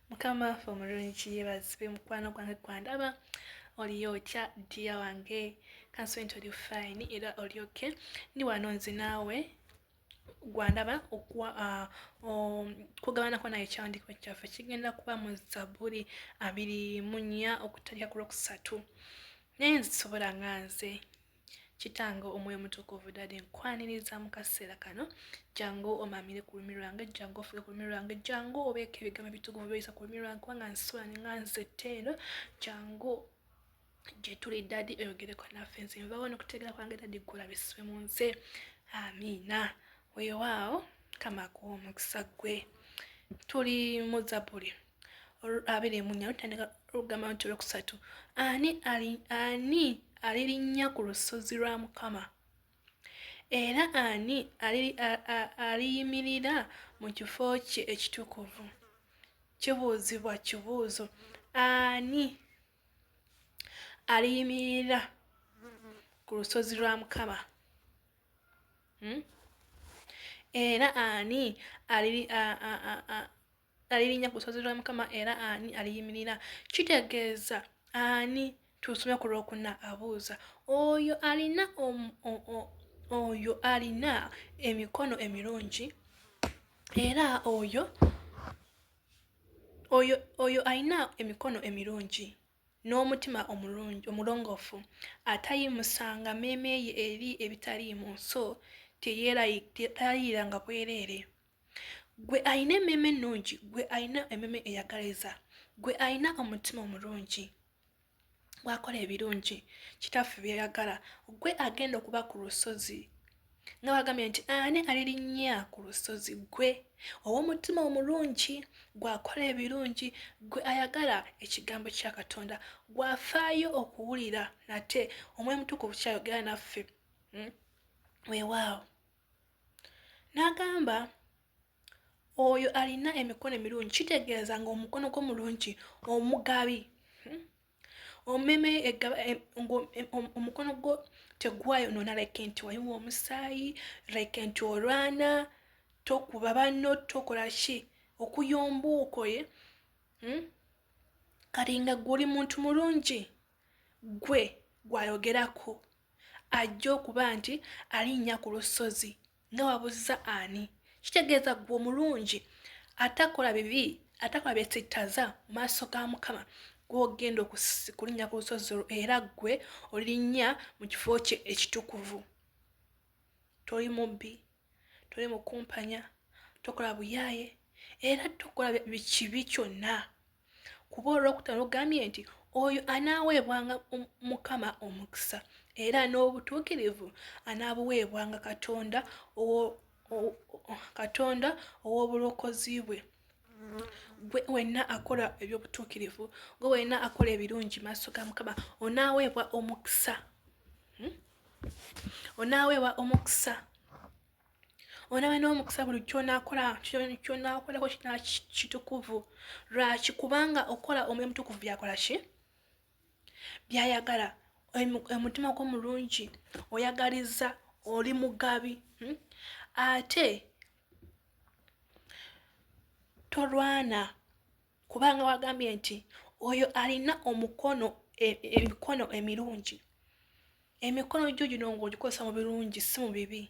mukama waffe omulungi yebazibwe mukwano gwange gwandaba oliyo otya dia wange kansobe nti oli fine era oli ok ndi wano nze naawe gwandaba ah, um, kugabanako naye ekiwandiiko kyaffe kigenda kuba mu zabuli abiri munya okutandika ku lwokusatu naye nzisobola nga nze Kitange omwoyo mutukuvu dade nkwaniriza mu kaseera kano jangu omamire ku lulimi lwange jangu ofuge ku lulimi lwange jangu obeeko ebigambo ebitukuvu byoyisa ku lulimi lwange kubanga nsula nga nzette eno jangu gyetuli dadi oyogereko naffe nze nvawo nokutegeera kwange dadi gulabiswe mu nze amiina wewaawo kamakuwa omukisa gwe tuli muzabuli abiri mu nnya lutandika olugamba nti olwokusatu ani ali ani alirinnya ku lusozi lwa mukama era ani aliyimirira mu kifo kye ekitukuvu kibuuzibwa kibuuzo ani aliyimirira ku lusozi lwa mukama hmm? era ani alirinnya ku lusozi lwa Mukama era ani aliyimirira? Kitegeeza ani? Tusome ku lwokuna abuuza oyo alina oyo alina emikono emirungi era oyo oyo oyo alina emikono emirungi n'omutima omulungi omulongoofu atayimusanga mmeeme ye eri ebitaliimu so teyeerayiranga bwereere. gwe alina emmeeme ennungi gwe alina emmeeme eyagaliza gwe alina omutima omulungi bwakola ebirungi kitaffe byeyagala gwe agenda okuba ku lusozi nga bagambye nti ani alirinnya ku lusozi gwe ow'omutima omulungi gwakola ebirungi gwe ayagala ekigambo kya katonda gwafaayo okuwulira nate omwoyo mutukuvu kyayogera naffe hmm? weewaawo n'agamba oyo alina emikono emirungi kitegeeza ng'omukono gwo mulungi omugabi hmm? omeme e, e, omukono gwo tegwayonoona like nti wayiwa omusaayi like nti olwana tokuba banno tokola ki okuyomba okoye hmm? kati nga gwe oli muntu mulungi gwe gwayogerako ajja okuba nti alinnya ku lusozi nga wabuzza ani kitegeeza gwe omulungi atakola bibi atakola byesittaza mu maaso ga mukama gwogenda okulinnya ku lusozi olwo era ggwe olirinnya mu kifo kye ekitukuvu toli mubbi tuli mu kumpanya tokola buyaaye era tokola bikibi kyonna kuba olwokutano ogambye nti oyo anaaweebwanga mukama omukisa era n'obutuukirivu anaabuweebwanga katonda katonda ow'obulokozi bwe gwe wenna akola ebyobutuukirivu gwe wenna akola ebirungi maaso ga mukama onaaweebwa omukisa hmm? onaaweebwa omukisa onaaba n'omukisa buli kyonakola kyonakolako kina kitukuvu lwaki kubanga okukola omwoyo mutukuvu byakola ki byayagala omutima gwo mulungi oyagaliza oli mugabi hmm? ate tolwana kubanga wagambye nti oyo alina omukono e, emikono emirungi emikono gyo gino ng'ogikozesa mu birungi si mu bibi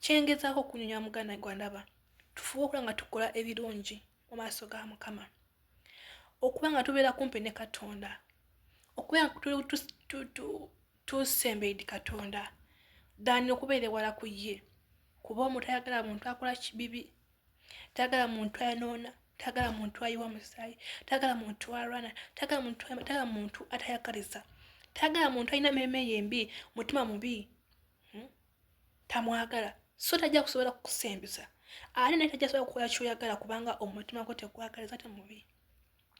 kyengezaako okunyonya muganda gwandaba tufuba okuba nga tukola ebirungi mu maaso ga mukama okuba nga tubeera kumpi ne katonda okuba nga tusembeidi katonda dani okubeera ewala ku ye kuba omutayagala muntu akola kibibi tayagala muntu ayonoona tayagala muntu ayiwa musaayi tayagala muntu alwana tayagala muntu tayagala muntu atayagaliza tayagala muntu alina meeme yembi mutima mubi hmm? tamwagala so tajja kusobola kukusembeza ate naye tajja kusobola kukola kyoyagala kubanga omutima gwo tegwagaliza te mubi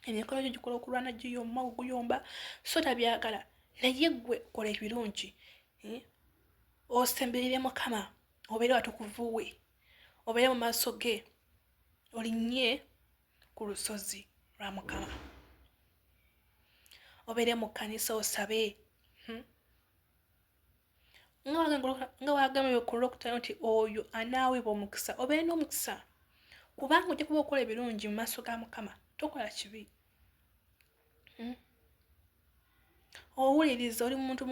emikolo gyo gikola okulwana giyomba oguyomba so tabyagala naye gwe kola ebirungi hmm? osemberere mukama obeere watukuvuwe obeere mu maaso ge olinnye ku lusozi lwa mukama obeere mu kkanisa osabe hmm? nga wagambye ku lwokutaano nti oyo anaaweebwa omukisa obeere n'omukisa kubanga ojja kuba okola ebirungi mu maaso ga mukama tokola kibi hmm? owuliriza oli muntu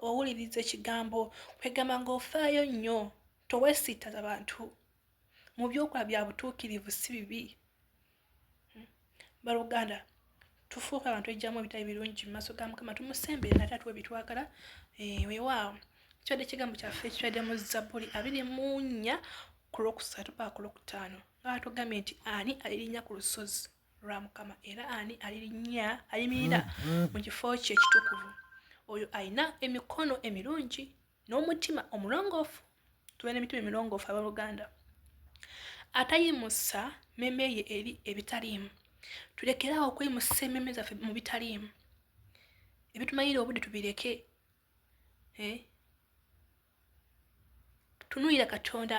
owuliriza ekigambo kwegamba ngaofaayo nnyo towesittaza bantu mu byokola bya butuukirivu si bibi hmm. baluganda tufuuka abantu ejjamu ebitali birungi mu maaso ga mukama tumusembere nate atuwa ebitwagala eh, wewaawo kibadde ekigambo kyaffe ekibadde mu zabbuli abiri mu nnya ku lwokusatu paa ku lwokutaano nga batugambye nti ani alirinnya ku lusozi lwa mukama era ani alirinnya ayimirira mm-hmm. mu kifo kye ekitukuvu oyo alina emikono emirungi n'omutima omulongoofu tube n'emitima emirongoofu abooluganda atayimusa meme ye eri ebitaliimu tulekeraawo okweyimusa ememe zaffe mu bitaliimu ebitumalira obudde tubireke eh? tunuyira katonda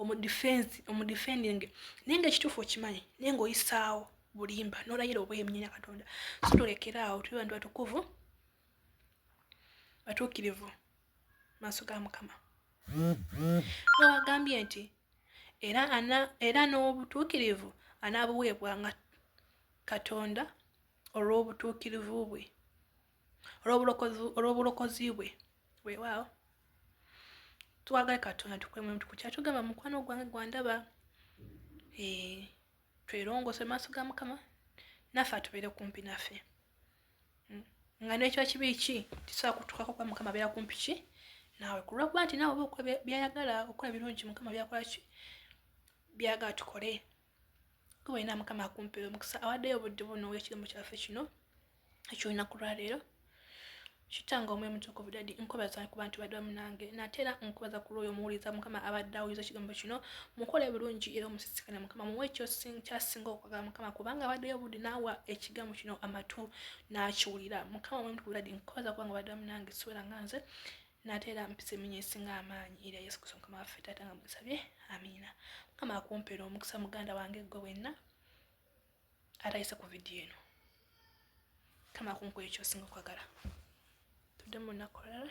omudifensi omudifendinge naye nga ekituufu okimanyi naye nga oyisaawo bulimba nolayira obwemnyenya katonda so tulekere awo tuli bantu batukuvu batuukirivu maaso ga mukama nowagambye nti era ana era n'obutuukirivu anaabuweebwa nga katonda olw'obutuukirivu bwe olw'obulokozi bwe weewaawo twagale katonda tukwemtukukyatugamba mukwano gwange gwandaba eh, twerongose maaso ga mukama naffe atubeere kumpi naffe hmm. nga nekyo kibi ki tisobola kutukako kuba mukama abeera kumpi ki naawe kulwakuba nti naawe oba byayagala okukola birungi mukama byakola ki byagala tukole kuba olina mukama akumpera omukisa awaddeyo obudde buno wekirimu kyaffe kino ekyolunaku lwaleero kitange omwe mutuku budadi nkubaza ku bantu badwa munange natera nkubaza ku lwoyo muwuliza mukama abadde awuliza ekigambo kino mukole bulungi era omusisikane mukama muwe kyasinga okwagala mukama kubanga abaddeyo obudde naawa ekigambo kino amatu nakiwulira mukama omwe mutuku budadi nkubaza kubanga badwa munange siwera nga nze nate era mpisa eminya esinga amaanyi erya yesu kristo mukama waffe taata nga mwesabye amiina mukama akumpeera omukisa muganda wange gwe wenna atayise ku vidiyo eno mukama akunkuwa ekyosinga okwagala tudde mu lunaku olala